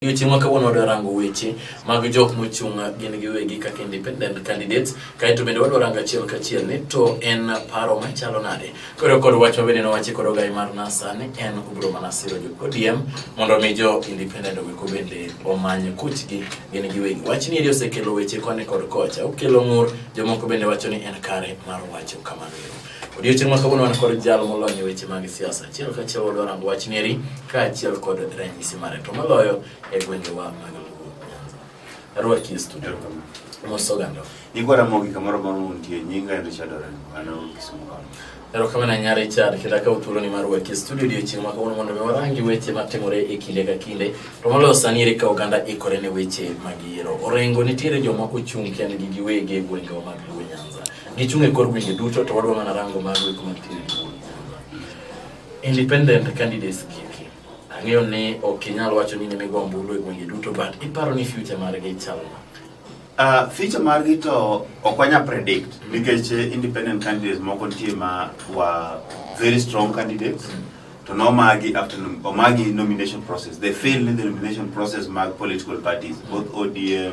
Weche ma kawuono wadwa rango weche mag jok mochung' gin giwegi kaka independent candidates kaeto bende wadwa rango achiel kachiel ni to en paro machalo nade koro kod wach ma bende nowachi kod ogai mar NASA ni en obiro mana siro jo ODM mondo mi jo independent oweko bende omany kuchgi gin giwegi wach ni eri osekelo weche koni kod kocha okelo ng'ur jomoko bende wacho ni en kare mar wacho kamano Odiochieng' ma kawuono wan kod jal molony e weche mag siasa. Achiel kachiel wadwa rango wach nieri kaachiel kod ranyisi mare to moloyo e gwengewa mag Luo Nyanza. Arwaki e studio. Mos oganda. Igwa Ramogi kamoro amora muntie, nyinga en Richard Orengo, an aol Kisumu County. Erokamano nya Richard, kendo akawo thuoloni mar waki e studio odiochieng' ma kawuono mondo mi warangi weche matimore e kinde ka kinde. To moloyo sani ere ka oganda ikore ne weche mag yiero. Orengo nitiere joma ochung' kendgi giwegi e gwengewa mag Luo Nyanza. Gichung' e kor gwenge duto to wadwa mana rango mago eko mantiere e duol. Independent candidates gigi. Ang'eyo ni ok inyal wacho ni nimigo ombulu e gwenge duto but iparo ni future margi chal nade? Uh, feature margi to ok wanya predict nikech eh, independent candidates moko nitie ma wa very strong candidates to no magi after nom- omagi nomination process they fail in the nomination process mag political parties both odm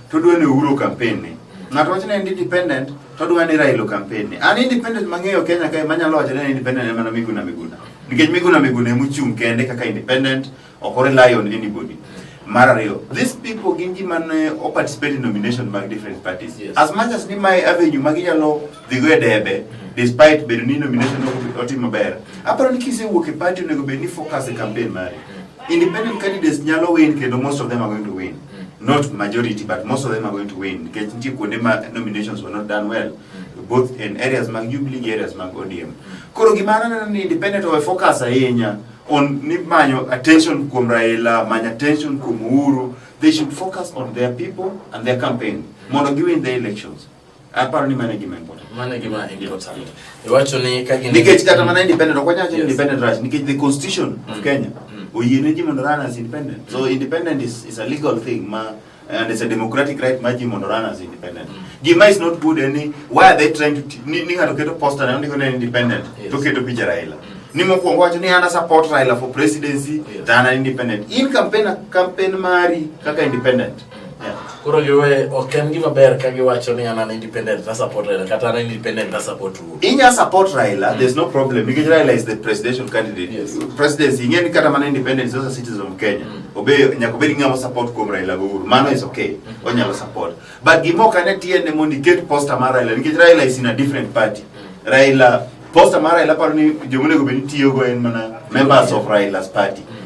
to dwa ni Uhuru campaign ni ng'ato wacho ni en independent to dwa ni Raila campaign ni an independent mang'eyo Kenya kae manyalo wacho ni independent en mana Miguna Miguna nikech Miguna Miguna emu chung' kende kaka independent ok o rely on anybody mar ariyo these people gin ji man eh, o participate in nomination mag different parties yes. as much as ni mae avenue ma ginyalo dhigo e debe despite bedo ni nomination otimo ber aparo ni kisewuok e party onego bed ni focus e campaign mari independent candidates nyalo win kendo most of them are going to win Mm. Not majority, but most of them are going to win. Nikech nitie kuonde ma nominations were not done well, mm. both in areas mag Jubilee gi areas mag ODM. Mm. Koro gima aneno ni independent owe focus ahinya on ni manyo attention kuom Raila, manyo attention kuom Uhuru. They should focus on their people and their campaign mondo giwin the elections. Aparo ni mano e gima important. Mano e gima important. Iwacho ni ka gin Nikech kata mana independent ok wanyal yes. independent right nikech the constitution mm. of Kenya mm. oyie ne ji mondo run as independent. Mm. So independent is, is a legal thing ma and it's a democratic right ma ji mondo run as independent. Mm. Gima is not good any eh, why are they trying to ni, ni ng'ato keto poster na ndiko ne independent yes. to keto picha Raila. Mm. Ni mokwongo wacho ni ana support Raila for presidency yes. than an independent. In campaign campaign mari kaka independent. Koro giwe ok en gima ber ka giwacho ni an an independent na support Raila kata an independent na support Uhuru. Inya support Raila, mm. there's no problem because Raila is the presidential candidate. Yes. Presidency ingeni kata mana independent is also citizen of Kenya. Mm. Obe nyako bedi ngamo support kuom Raila go Uhuru. Mano is okay. Mm. Mm-hmm. Onyalo support. But gimo kane tiende mondo iket poster mar Raila because Raila is in a different party. Mm. Raila poster mar Raila paro ni jomonego bedi tiyo go en mana members of Raila's party. Mm.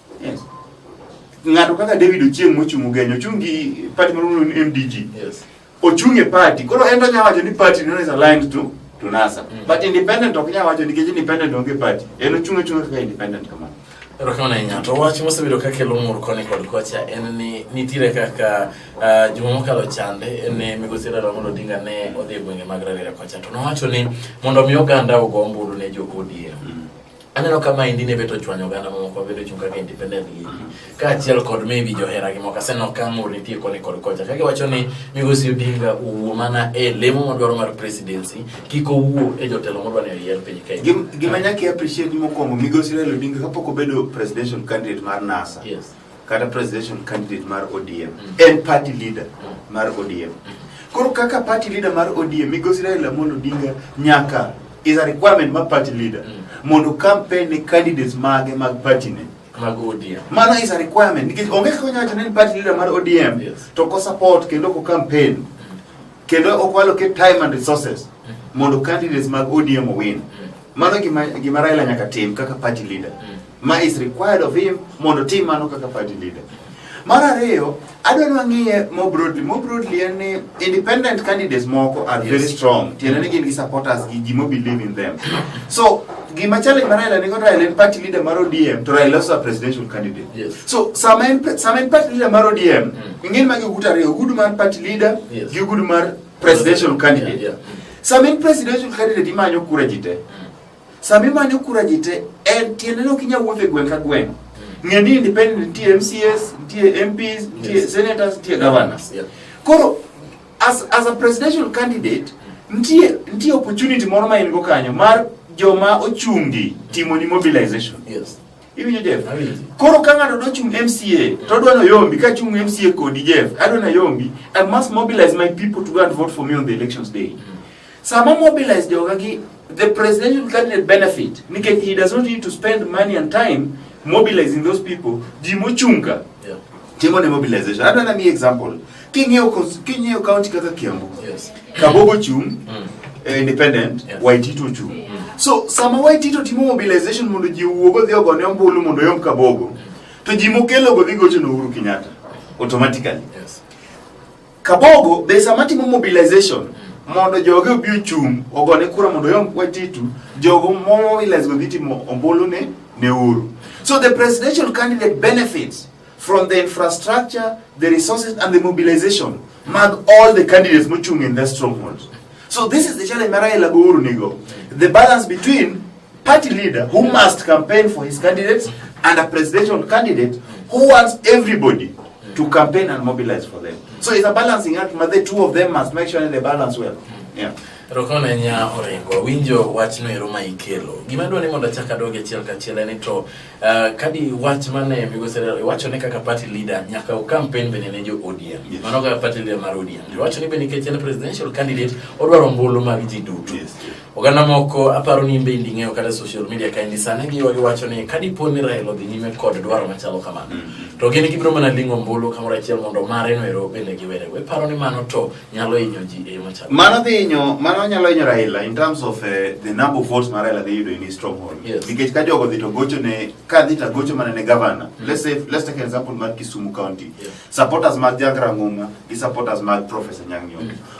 ng'ato kaka David Ochieng mochung' Ugenya ochung' gi party maluongo ni MDG Yes. ochung' e party koro en to nyalo wacho ni party no is aligned to to NASA Mm. but independent ok nyalo wacho nikech independent onge party en ochung' achung' kaka independent kamano Erokamano ahinya. To wach mosebedo ka kelo mor koni kod kocha en ni nitiere kaka ah, juma mokalo chande en ni migosi Raila Amolo Odinga ne odhi e gwenge mag Rarieda kocha to nowacho ni mondo mi oganda ogo ombulu ne jo ODM. Aneno ka maendi ne bet ochwanyo oganda mamoko mabedo chung' kaka independent gi kaachiel kod maybe johera gi moko aseneno ka mur nitie koni kod kocha ka giwacho ni migosi Odinga owuo mana e lemo madwaro mar presidency kik owuo e jotelo modwa ni oyier piny Kenya. Gim- gima nyaka i appreciate mokwongo migosi Raila Odinga kapok obedo presidential candidate mar NASA Yes. kata presidential candidate mar ODM mm. en party leader mm. mar ODM mm. koro kaka party leader mar ODM migosi Raila Amolo Odinga nyaka is a requirement ma party leader mondo campaign ne candidates mage mag party ne mag ODM mano is a requirement nikech onge kaka onyalo wacho ni party leader mar ODM yes. to ko support kendo ko campaign kendo okwalo ke time and resources mondo candidates mag ODM owin mano gima, gima Raila nyaka tim kaka party leader mm. ma is required of him mondo otim mano kaka party leader. Mar ariyo, adwa ni wang'iye more broadly. More broadly en ni independent candidates moko are very strong. Tiende ni gin gi supporters gi ji mo believe in them. So gima challenge ma Raila nigo Raila en party leader mar ODM to Raila also a presidential candidate. Yes. So sama en pre- sama en party leader mar ODM, ing'eni magi ogudu ariyo, ogudu mar party leader Yes. gi ogudu mar presidential candidate. Yeah, yeah. Sama en presidential candidate imanyo kura ji te. Sama imanyo kura ji te, en tiende ni ok inyal wuotho e gweng' ka gweng'. Ng'e ni independent nitie MCAs, nitie MPs, nitie Yes. senators, nitie governors. Yeah. Koro as, as a presidential candidate nitie nitie opportunity moro ma in go kanyo mar joma ochungi timoni mobilization. Yes. Iwinjo Jeff? Awinjo. Koro ka ng'ato dwa chung' MCA to odwa ni oyombi ka chung' MCA kodi Jeff, adwa ni ayombi, I must mobilize my people to go and vote for me on the elections day. Sama mobilize joga gi the presidential candidate benefit nikech he does not need to spend money and time mobilizing those people ji mochunga yeah. timo ne mobilization adwa na mi example king'iyo king'iyo county kaka Kiambu yes. Kabogo chung mm. eh, independent yes. Waitito chung mm. so sama Waitito timo mobilization mondo ji wuogo dhi ogone ombulu mondo yom Kabogo mm. to ji mokelo go dhi gocho no Uhuru Kenyatta automatically yes. Kabogo be sama timo mobilization mondo joge obi ochung' ogone kura mondo oyom Watitu, jogo mobilize go dhi timo ombulu ne ne Uhuru. So the presidential candidate benefits from the infrastructure, the resources and the mobilization mag all the candidates mochung' in the strongholds. So this is the challenge ma Raila go Uhuru nigo. The balance between party leader who must campaign for his candidates and a presidential candidate who wants everybody to campaign and mobilize for them. So it's a balancing act, but the two of them must make sure they balance well. Yeah. Rokone nya orengo winjo wach no ero ma ikelo. Gima dwa ni mondo achak adoge achiel kachiel en to uh, kadi wach mane migosi wacho ne kaka party leader nyaka u campaign bende ne jo ODM. Yes. Mano kaka party leader mar ODM. Wacho ni bende nikech en presidential candidate odwaro ombulu mag ji duto. Yes. Oganda moko aparo ni imbe indi ng'eyo kata social media ka indi sani giwa giwacho ni ka dipo ni Raila odhi nyime kod dwaro machalo kamano mm-hmm. to gin gibiro mana ling'o mbulu kamoro achiel mondo mare no ero bende giwere we paro ni mano to nyalo hinyo ji e yo machalo mano dhi hinyo mano nyalo hinyo Raila in terms of uh, the number of votes ma Raila dhi yudo in his stronghold yes. nikech ka jogo dhi to gocho ne ka dhi to gocho mana ne governor mm. let's say let's take an example mar Kisumu county yeah. supporters mag Jagra Ng'uma gi supporters mag Professor Nyang' Nyong'o mm.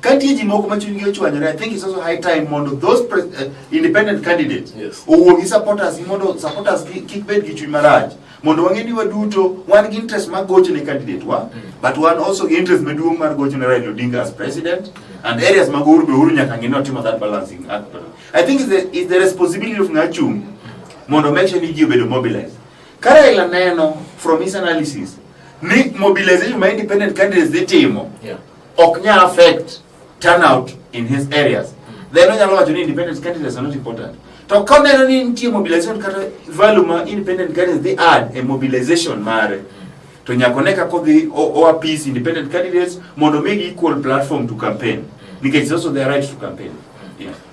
Katie ji moko ma chunygi ochwanyore, I think it's also high time mondo those uh, independent candidates yes. owuo gi supporters mondo supporters kik bed gi chuny marach mondo wang'e ni waduto wan gi interest mar gocho ne candidate wa mm. but wan also gi interest maduong' mar gocho ne Raila Odinga as president mm. and areas mag Uhuru be Uhuru nyaka ng'e ni otimo that balancing act. I think it's the, it's the responsibility of ng'achung' mondo make sure ni ji obedo mobilized. Ka Raila neno from his analysis ni mobilization ma independent candidates dhi timo yeah. ok nyal affect turnout in his areas then onyalo wacho ni independent candidates are not important to ka oneno ni nitie mobilization kata value ma independent candidates dhi add e mobilization mare to nyaka one kaka odhi o- o appease independent candidates mondo omigi equal platform to campaign nikech it's also their right to campaign yeah.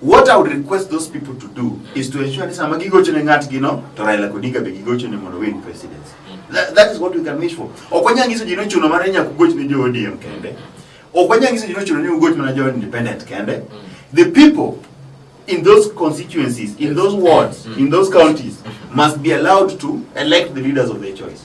What I would request those people to do is to ensure ni sama gigocho ne ng'atgi no to Raila Odinga be gigocho ne mondo win presidency. That, that is what we can wish for. Ok wanyal nyiso ji ni ochuno mar nyaka ugoch ne jo ODM kende. Ok wanyal nyiso ji ni ochuno ni ugoch mana jo independent kende. The people in those constituencies, in those wards, in those counties must be allowed to elect the leaders of their choice.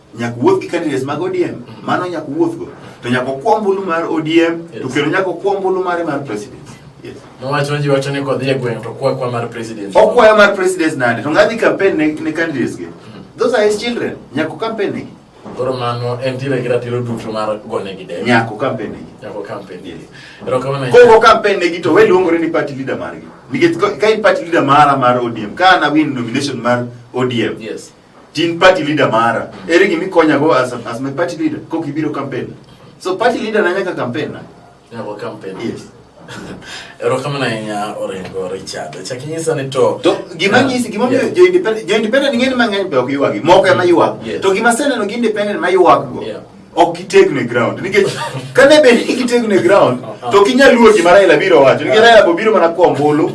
nyaka wuoth gi candidates mag ODM mm. mano nyaka wuoth go to nyaka okwa ombulu mar ODM to kendo nyaka okwa ombulu mare mar president Nowacho ji wacho ni kodhi e gweng' to kwa kwa mar president. Okwayo mar president nade? To ngadhi campaign ne, ne candidates ge. Mm. Those are his children. Nyako campaign ne. Koro mano en tire gi ratiro duto mar gone gi debe. Nyako campaign ne. Nyako campaign ne. Ero kama na. Koro campaign ne gi to we luongore ni party leader margi. Nikech ka in party leader mara mar ODM, ka na win nomination mar ODM. Yes. Tin party leader mara. Eri gimi konya go as, as my party leader. Koki biro campaign. So party leader na nyaka campaign na. Nyaka campaign. Yes. Ero kama na nya orengo Richard. Chakinyisa ni to. To gima yeah. nyisi gima yeah. jo independent jo independent ngeni mang'eny pe ok yuagi. Moko ema yuag. Yes. To gima sene no gi independent ma yuag go. Yeah. ok gitegno e ground nikech kane bed ni gitegno e ground to ok inyal luwo gima Raila biro wacho nikech Raila bobiro mana kuom bolo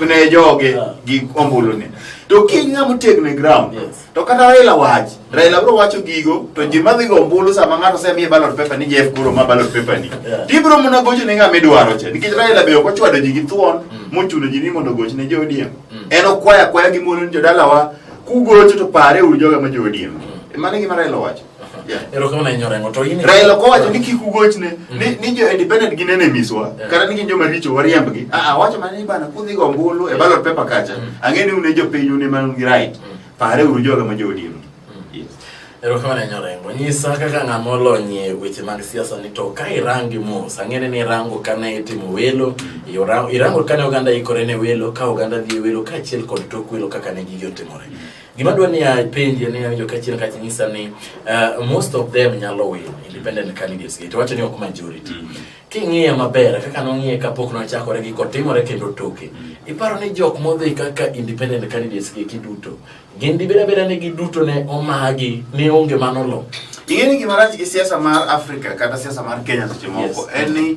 ne joge ah. gi ombulu ni to kiny ng'ama otegno e ground to kata Raila wach Raila bro wacho gigo to ji madhi go ombulu sama ng'ato osemiye ballot paper ni Jeff Kuro ma ballot paper ni tibro muna gocho ne ng'ama idwaro cha nikech Raila be ok ochwado ji gi thuon mm. mochuno ji ni mondo goch ne jo ODM mm. en okwaya kwaya gi mon jodalawa kugocho to pare uru joga ma jo ODM mm. mano e gima Raila wacho erokamano nyorengo to in raila kowacho ni kik ugochne ni mhm. ni jo independent gin enemies wa kata ni gin joma richo wariembgi a ah, a ah, wacho mana ni bana kudhi go ombulu e ballot paper kacha mhm. ang'e ni une jopiny une man gi right mhm. pare uru joga ma joodiem erokamano nyorengo nyisa kaka ng'ama olonyie weche mag siasa ni to ka irangi mos ang'ene ni irango kane itimo welo irango kane oganda ikore ne welo ka oganda dhi e welo kaachiel kod tok welo kaka ne gigi otimore Gima dwa ni apenji ni awinjo kachien kach nyisa ni uh, most of them nyalo win independent candidates to wacho ni ok majority. Mm -hmm. King'iye maber kaka nong'iye kapok nochakore gi kotimore kendo toke. Mm -hmm. Iparo ni jok modhi kaka independent candidates gi kiduto gin dibeda beda ni giduto ne omagi ne onge manolo. Ing'e ni gima rach gi siasa mar Afrika kata siasa mar Kenya seche moko yes. en ni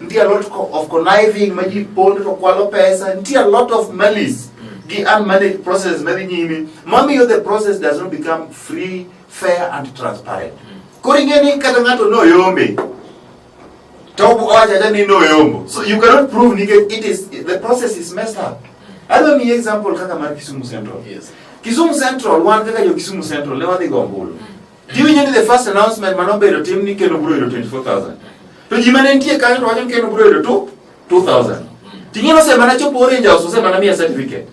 Nitie a lot co- of conniving ma ji pondo to kwalo pesa, nitie a lot of malice gi unmanaged process madhi nyime mamiyo the process does not become free, fair and transparent. Koro ing'e ni kata ng'ato noyombe to owacho acha ni noyombo. So you cannot prove nikech it is the process is messed up. Adwa miyi example kaka mar Kisumu Central. Yes. Kisumu Central wan kaka jo Kisumu Central ne wadhi go ombulu. Giwinjo ni the first announcement mane obedo tim ni keno bro yudo 24,000. To ji mane nitie kanyo to wacho ni keno bro yudo tu 2,000. Ting'e no sema nachopo orange house sema na mia certificate.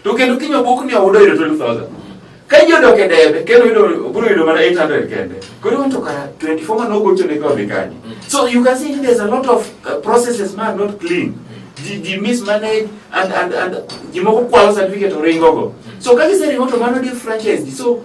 To kendo kinyo buk ni oyudo yudo 12,000. Ka ji odok e debe keno yudo bro yudo mana 800 kende. Koro wanto kara 24 mane ogocho ne kwa vikani. So you can see there's a lot of uh, processes man not clean. Ji, ji mismanage and, and, and ji moko kwalo certificate oringo go. So ka giseringo to mano differentiates ji. So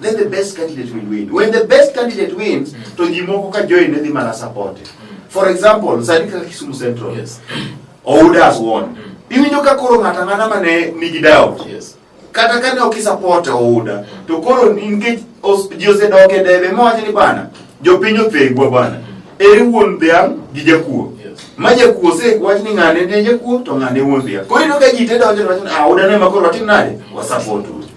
Let the best candidate will win. When the best candidate wins, mm. to ji moko ka join ne dhi mana support. Mm. For example, sani kaka Kisumu Central. Yes. Ouda has won. Mm. Iwinjo ka koro ng'ata ng'ata ma ne nigi doubt. Yes. Kata ka ne ok support Ouda, mm. to koro nikech ji osedok e debe mowacho ni bana, jopiny othegwa bana. Mm. Eri wuon dhiang' gi jakuo. Yes. Ma jakuo se wach ni ng'ane ne jakuo to ng'ane wuon dhiang'. Koro ino ka ji te donjo to wacho ni ah, Ouda ne ma koro watim nade? Wasaport Ouda.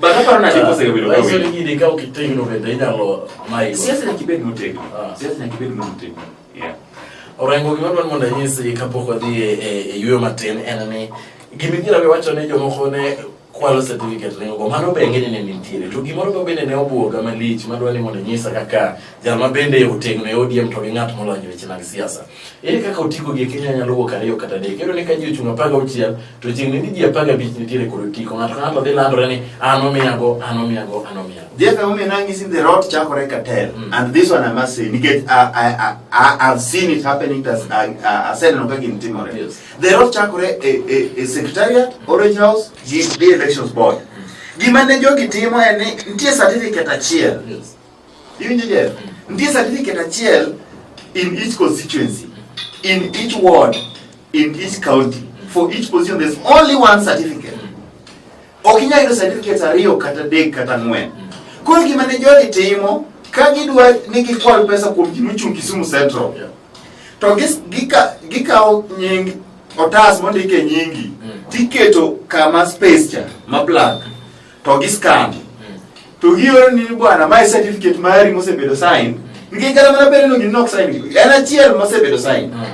But hapa na chiko sasa bila kawi. Sio nyingine kama kitendo bende inalo mai. Siasa na kibedo no tego. Ah. Siasa na kibedo no tego. Yeah. Orengo gima dwan mondo anyisi kapok wadhi e, e, e yueyo matin en ni gima idhi rawe wacho ne jomoko ne kwalo certificate ne ogo mano be ng'eny ne nitiere to gimoro be bende ne obuoga malich madwa ni mondo nyisa kaka jal ma bende otegno e ODM to gi ng'at molony weche mag siasa Ere kaka otiko gi Kenya nyalo wuok ariyo kata adek? Iyudo ni ka ji ochung' apar gauchiel to chieng' ni ji apar gabich nitiere kod otiko. Ng'ato ka ng'ato dhi landore ni an omiyago, an omiyago, an omiyago. Jeff Aumia nangisi the road chakore Katel mm. and this one I must say nikech I, I, I, I have seen it happening that I, I, I said no kaka timore. Yes. The road chakore e, e, e secretariat, Orange House, the elections board. Mm. Gima ne jogi timo en ni nitie certificate achiel. Yes. Iwinjo Jeff? Nitie certificate achiel in each constituency, in each ward, in each county. For each position there's only one certificate. Ok inyal yudo certificates ariyo kata adek kata ang'wen. Koro gima ne jogi timo ka gidwa ni gikwal pesa kuom ji mochung' Kisumu Central. To gis- gika- gikawo nying otas mondike nyingi tiketo kama space cha ma blank. to gi stamp mm. to gioro ni bwana mae certificate mari mosebedo sign mm. nikech kata mana bere no gin nok sign en achiel mosebedo sign mm.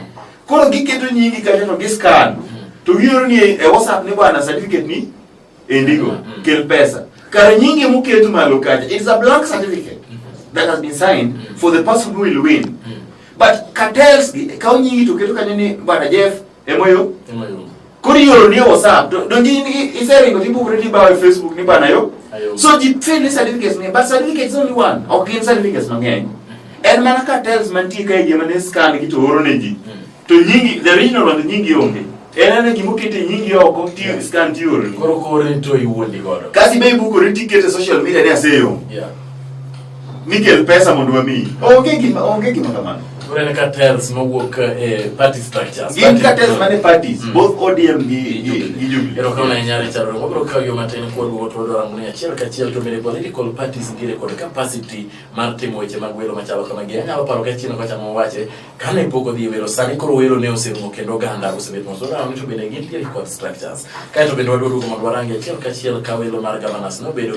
koro giketo nyingi kanyo to gi scan to gioro ni e whatsapp ni bwana certificate ni endigo kel pesa kar nyingi muketo malo kacha it's a blank certificate that has been signed for the person who will win but cartels gi kawo nyingi to keto kanyo ni bwana Jeff Emoyo? Emoyo. Kori yoro ni WhatsApp. Don't you is there any people already buy Facebook ni bana yo? So ji fail ni certificates ni, but certificates only one. Okay, in certificates mang'eny. Mm-hmm. En mana ka tells man ti kai jema ne scan ki to oro ne ji. Mm. To nyingi the original one nyingi onge. En ana gimo kete nyingi oko ti scan ti oro. Koro kore to iwuondi godo. Kasi be ibu kore ti kete social media ni aseyo. Yeah. Nikel pesa mondo wamiyi. Onge gima onge gima kamano. Unene cartels mawuok e party structures. Gin cartels mane parties, mm. both ODM gi gi gi Jubilee. Ero kauna inyalo charo wabro kawo yo matin kuom wuot wado rango ni achiel ka achiel to mere political parties nitiere kod capacity mar timo weche mag welo machalo kama gi. Anyalo paro ka chino kocha mowache kane pok odhi welo sani koro welo ne oserumo kendo oganda osebet moso na mtu bende gintiere kod structures. Kae to bende wadwaro mondo warangi achiel ka achiel ka welo mar governors nobedo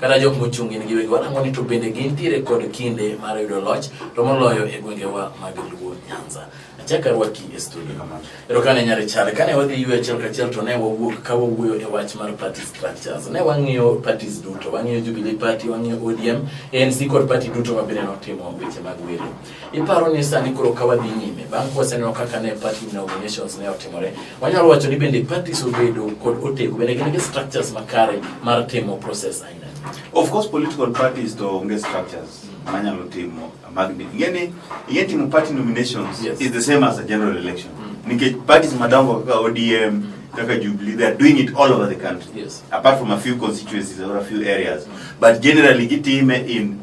kata jok mochung' in giwegi wanang'o ni to bende gintiere kod kinde mar yudo loch to moloyo e gwengewa mag Luo Nyanza. Achaka rwaki e studio. Ero kane nyare chale kane wadhi ywe achiel kachiel to ne wawuok ka wawuoyo e wach mar party structures. Ne wang'iyo parties duto, wang'iyo Jubilee Party, wang'iyo ODM, ANC kod party duto mabende notimo weche mag welo. Iparo ni sani koro ka wadhi nyime bang' kwaseneno kaka ne party inaugurations ne otimore, wanyalo wacho ni bende parties obedo kod otego bende gin gi structures makare mar timo process aina. Of course political parties to onge structures manyalo timo magni. Ingeni ingeni timo party nominations yes. is the same as a general election. Mm. Nikech parties madongo kaka ODM mm. kaka Jubilee they are doing it all over the country. Yes. Apart from a few constituencies or a few areas. Mm. But generally gitime in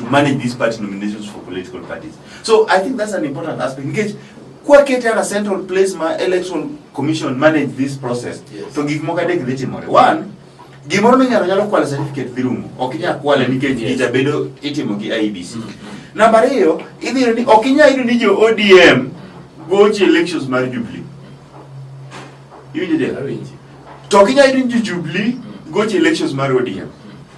to manage these party nominations for political parties. So I think that's an important aspect. Nikech kwa kete a central place ma election commission manage this process. Yes. To gik moko adek dhi timore. One, gimoro minyalo nyalo kwalo certificate dhi rumo. Ok inyal kwale nikech yes. ijabedo itimo gi IEBC. Mm -hmm. Namba ariyo, idhi ni ok inyal yudo ni jo ODM gochi elections mar Jubilee. Iwinjo dia? To ok inyal yudo ni jo Jubilee mm. gochi elections mar ODM.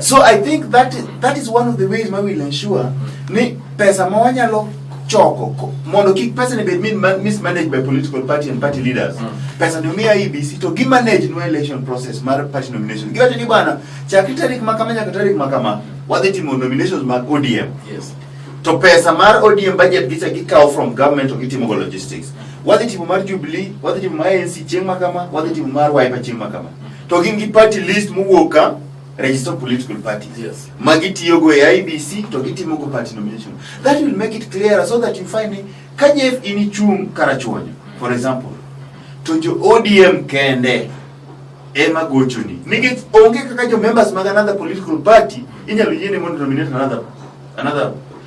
So I think that is, that is one of the ways ma will ensure mm. ni pesa ma wanyalo choko mondo kik pesa ni bed mismanaged by political party and party leaders mm. pesa ni miya EBC to gi manage no election process mar party nomination giwacho ni bwana chakri tarik ma kama nyaka tarik ma kama wadhi timo nominations mag ODM yes. to pesa mar ODM budget gicha gikawo from government to gitimo go logistics wadhi timo mar Jubilee wadhi timo mar ANC chieng' ma kama wadhi timo mar Wiper chieng' ma kama to gin gi party list mowuok ka register political parties yes. ma gitiyogo e IBC to gitimogo party nomination that will make it clearer so that you find ni ka Jeff inichung' Karachuonyo for example to jo ODM kende ema gochoni nikech onge kaka jo members mag another political party inyalo yiene mondo nominate another another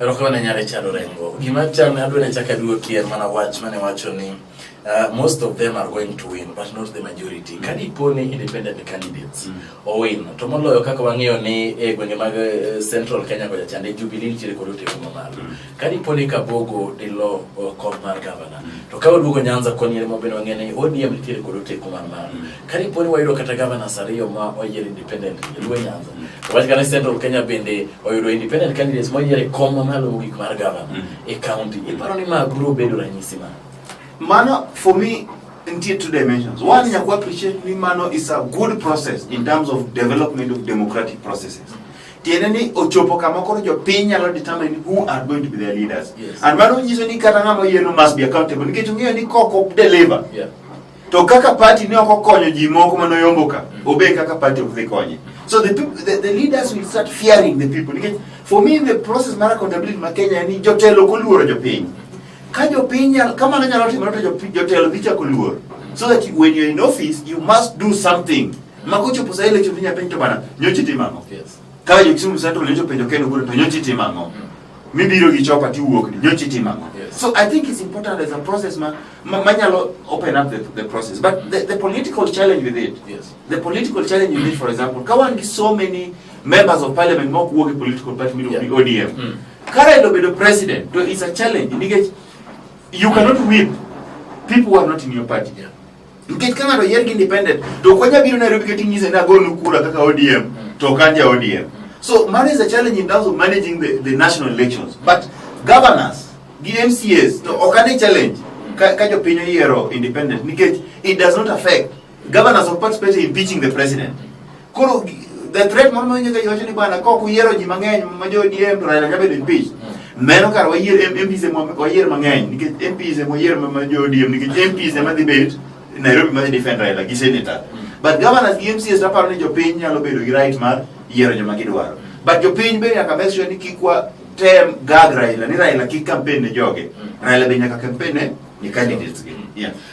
Erokamano ahinya Richard Orengo. Gima chal ne adwaro chaka duoki en mana wach mane wacho ni uh, most of them are going to win but not the majority. Mm. Kadi po ni independent candidates mm. o win to moloyo kaka wang'eyo ni e gwenge mag uh, Central Kenya kocha chande Jubilee nitiere kod ote kuma malo. Mm. Kadi po ni Kabogo dilo uh, kom mar governor. Mm. To ka oduogo Nyanza koni ere mobeno wang'eyo ni ODM nitiere kod ote kuma malo. Mm. Kariponi wayudo kata governors ariyo ma oyier independent e Luo Nyanza. To wach kana Central Kenya bende oyudo independent candidates moyier e kom mamalo mogik mar governor mm. e county. Iparo ni ma biro bedo ranyisi ma? Mano for me nitie two dimensions. One, yes. nyaku appreciate ni mano is a good process in terms of development of democratic processes. Tiende ni ochopo kama koro jopiny nyalo determine who are going to be their leaders. Yes. And mano nyiso ni kata ng'ama oyieno must be accountable nikech ong'eyo ni kok ok deliver. Yeah. to kaka party ne ok okonyo ji moko mane oyombo ka mm. obe kaka party ok dhi konye so the, people, the, the leaders will start fearing the people nikech for me the process mar accountability ma Kenya ni jotelo ok oluoro jopiny ka jopiny kama ne nyalo timore to jotelo dhi chako luor so that when you're in office you must do something ma kochopo sa election inya penjo to bana nyochi timo ang'o ka jo Kisumu Central nyocho penjo Ken Ogutu to nyochi timo ang'o mm. mibiro gi chopa tiwuok ni nyochi timo ang'o yes. so i think it's important as a process ma manyalo ma open up the, the process but the, the political challenge with it yes. the political challenge with it for example ka wan gi so many members of parliament ma ok wuok e political party miluongo yeah. ni odm mm. kara ilo bedo president to it's a challenge nikech you cannot whip people who are not in your party yeah. Nikech ka ng'ato oyier gi independent to ok wanyal biro Nairobi kata inyise ni agonu kura kaka ODM to ok an ja ODM. So mano is a challenge in terms of managing the, the national elections. But governors gi MCAs to ok ane challenge ka, ka jopiny oyiero independent nikech it does not affect governors of participate in impeaching the president. Koro the threat moro mawinjo ka iwacho ni bwana ka ok uyiero ji mang'eny ma jo ODM to Raila jabedo impeach. Meno kar wayier M- MPs ema wayier mang'eny nikech MPs ema wayier ma- ma jo ODM nikech MPs ema dhi bet Nairobi ma dhi defend Raila gi senator. But governors gi MCs to aparo ni jopiny nyalo bedo gi right mar yiero joma gidwaro. But jopiny be nyaka make sure ni kik wa tem gag Raila ni Raila kik campaign ne joge. Raila be nyaka campaign ne ni candidates gi. Yeah.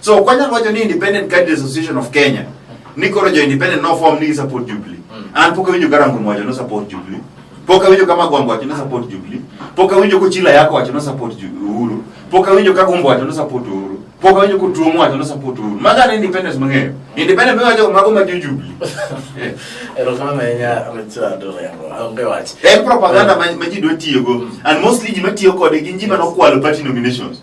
So kwanya wacho ni Independent Cadres Association of Kenya ni koro jo independent no form ni support Jubilee. Mm. An pok awinjo karango mwajo no support Jubilee. Pok awinjo kama Gwambo wacho no support Jubilee. Pok awinjo ko Chila yako wacho no support Uhuru. Pok awinjo ka Gombo wacho no support Uhuru. Pok awinjo ko Tuomo wacho no support Uhuru. Maga ni independence mang'eyo. Independent mang'eyo jo mago ma Jubilee. Eh. Erokamano ahinya Richard Orengo. Onge wach. En propaganda ma ji dwa tiyogo. And mostly ji ma tiyo kode gin ji ma nokwalo party nominations.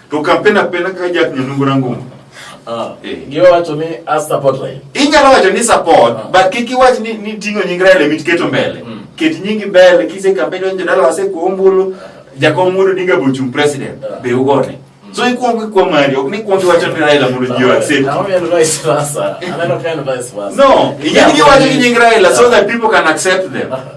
To kapenda penda ka jak nyonungu rangumu. Ah. Eh. Giwa wacho ni a support Raila. Inyalo wacho ni support, ah. but kiki wach ni ni tingo nying Raila mit keto mbele. Mm. Ket nyingi mbele kise kampeni onjo dala wase kuombulu. Ah. Jakom mudo diga bochung president. Ah. Be ugone. Mm. So ikuongo kwa mari, ok ni kuongo wacho ni Raila mudo jiwa accept. Na wame vice versa. Aneno kind vice versa. No, inyalo wacho ni nying Raila so that people can accept them. Ah.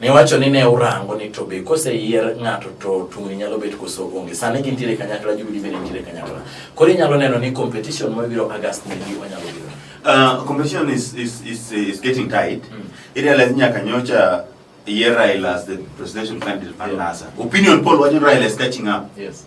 Niwacho ni ne urango ni to be koseyier ng'ato to tungni nyalo bet koso onge. Sani gintiere kanyakla, Jubilee bende nitiere kanyakla. Koro inyalo neno ni competition mabiro August ni gi onyalo biro. Uh, competition is, is, is, is getting tight. Mm. Irealize nyaka nyocha yier Raila as the presidential candidate for Yeah. NASA. Opinion poll wacho ni Raila is catching up. Yes.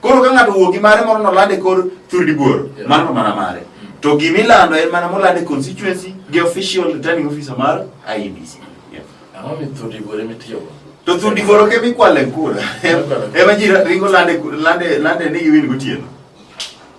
Koro ka ng'ato owuok gi mare moro noland e kor thurdi buoro, Yeah. mano mana mare. To gima ilando en mana moland e constituency gi official returning officer mar IEBC. Yeah. Ang'o mi thudi gore mitiyogo? To thurdi buoro ke mikwale kura. Ema ji ringo lande lande lande ni giwin gotieno.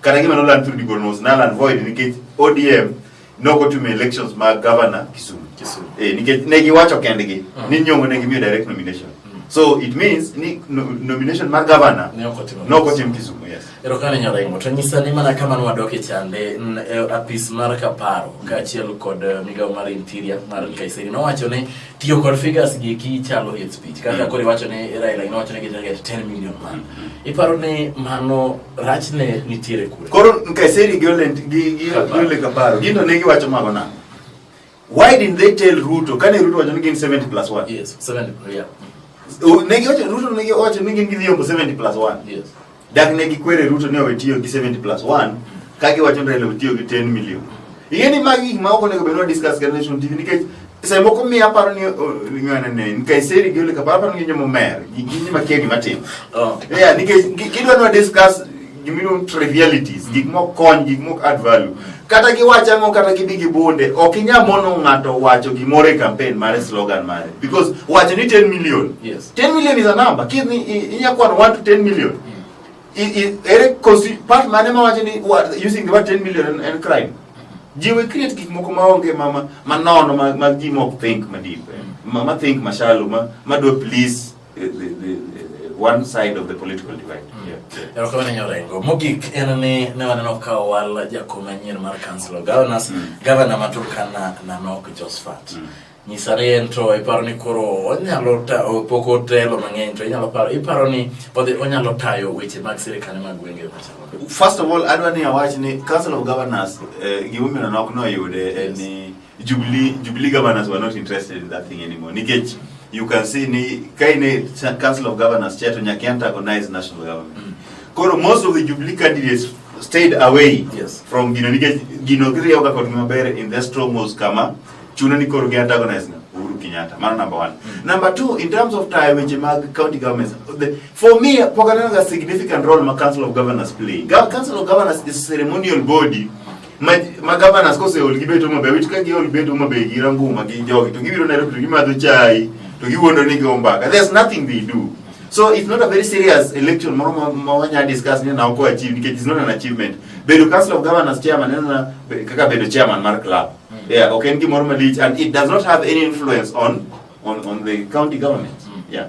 kata gima noland through Digo Nus naland void nikech ODM nok otimo elections mag governor Kisumu. Kisumu. Eh, nikech ne giwacho kendgi Mm. ni nyong'o ne gimiyo direct nomination. Mm. So it means ni no, nomination mar governor Ne ok otimo nok otim Kisumu, yes. Erokamano Nyaraimo, to nyisa ni mana kama nwadok e chande n- e apis mar Kaparo kaachiel kod eh, migawo mar Interior mar Kaiseri nowacho ni tiyo kod figures gi ki chalo hate speech kaka Mm. koro iwacho ni Raila nowacho ni gin target 10 million man. Iparo ni mano rachne nitiere kure koro Nkaiseri gi Olent gi gi Kaparo. Ole Kaparo gino ne giwacho mago nang'o why didn't they tell Ruto kane Ruto wacho ni gin 70 plus 1 yes 70 yeah O- ne giwacho Ruto ne giwacho ni gin gi dhiombo 70 plus 1 yes dak ne gikwere Ruto ni owe tiyo gi 70 plus 1 ka giwacho ni Raila otiyo gi 10 million Ing'e ni magi gik ma ok onego bed ni wadiskas gi Nation TV nikech seche moko miyo aparo ni ng'anane nikech seri gi ole kaparo aparo ni jomo mer gi gi ma kegi matin. Oh. Yeah, nikech gi- gidwa ni wadiskas gimiluongo trivialities, gik mok kony, gik mok add value. Kata giwach ang'o kata gibi gi bunde, ok inyal mono ng'ato wacho gimoro e campaign mare slogan mare because wacho ni 10 million. Yes. 10 million is a number. Kidhi i- inya kwano 1 to 10 million. Eric Kosi, part mane ma wacho ni using the word 10 million and crime. Ji we create gik moko ma onge ma ma ma nono ma ma ji mok think ma deep. Eh. Ma ma think ma shallow ma ma do please eh, the, the, the, the one side of the political divide. Mm. Erokamano nyorengo. Mogik en ni ne waneno ka owal jakom manyien mar Council of Governors, mm. Governor Maturkana Nanok Josphat. Mm. nyisa ni en to iparo ni koro onyalo pok otelo mang'eny to inyalo paro iparo ni odhi onyalo tayo weche mag sirikal mag gwenge machalo first of all adwa ni awach ni council of governors eh, gimomiyo nok noyude en ni jubilee jubilee governors were not interested in that thing anymore nikech you can see ni kaine council of governors chair to nyaka antagonize national government mm. koro most of the jubilee candidates stayed away yes. from Gino nikech Gino kiriyoga kod maber in the strongholds kama chuno ni koro gi antagonize na Uhuru Kenyatta mano number one mm. number two in terms of tie weche mag county governments the, for me pok aneno ga significant role ma council of governors play Ga, council of governors is a ceremonial body ma, ma governors kose ol gi beto mabe wit ka gi ol beto mabe gi ranguma gi jogi to gibiro Nairobi to gimadho chai to giwuondo ni go mbaka there's nothing they do so it's not a very serious election moro ma, ma wanya discuss ni na oko achieve because it's not an achievement bedo council of governors chairman en kaka bedo chairman mar club Mm. Yeah, ok en gimoro malich and it does not have any influence on, on, on the county government. Mm. Yeah.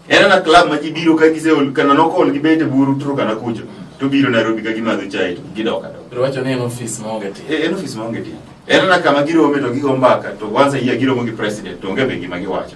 En ana club ma ji biro ka gise ol kana noko ol gibete buru turu kana kucho. Mm. To biro Nairobi ka gimadho chai to gidoka do. Ruwacho ni en office ma onge tiyo. Eh, en office ma onge tiyo. En ana kama girome to gigo mbaka to once a year giromo gi president to onge be gima giwacho.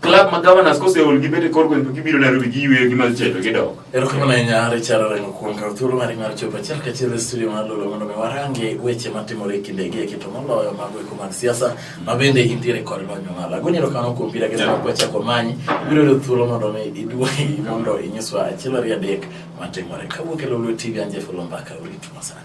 club ma governors kose ol gibete kor gweng' to gibiro Nairobi giyweyo gi mal cheto gidok. Erokamano ahinya Richard Orengo kuom kawo thuolo mari mar chopo achiel kachiel e studio mar Lolo mondo mi warange weche matimore e kinde gi eki to moloyo mago eko mag siasa ma bende intiere kod lony mamalo. Agoni erokamano kuom bira gi Yeah. kwa chako manyi biro yudo thuolo mondo mi iduogi mondo inyiswa achiel ariyo adek matimore. Kawuok e Lolo TV an Jeff Olomba ka urit masani.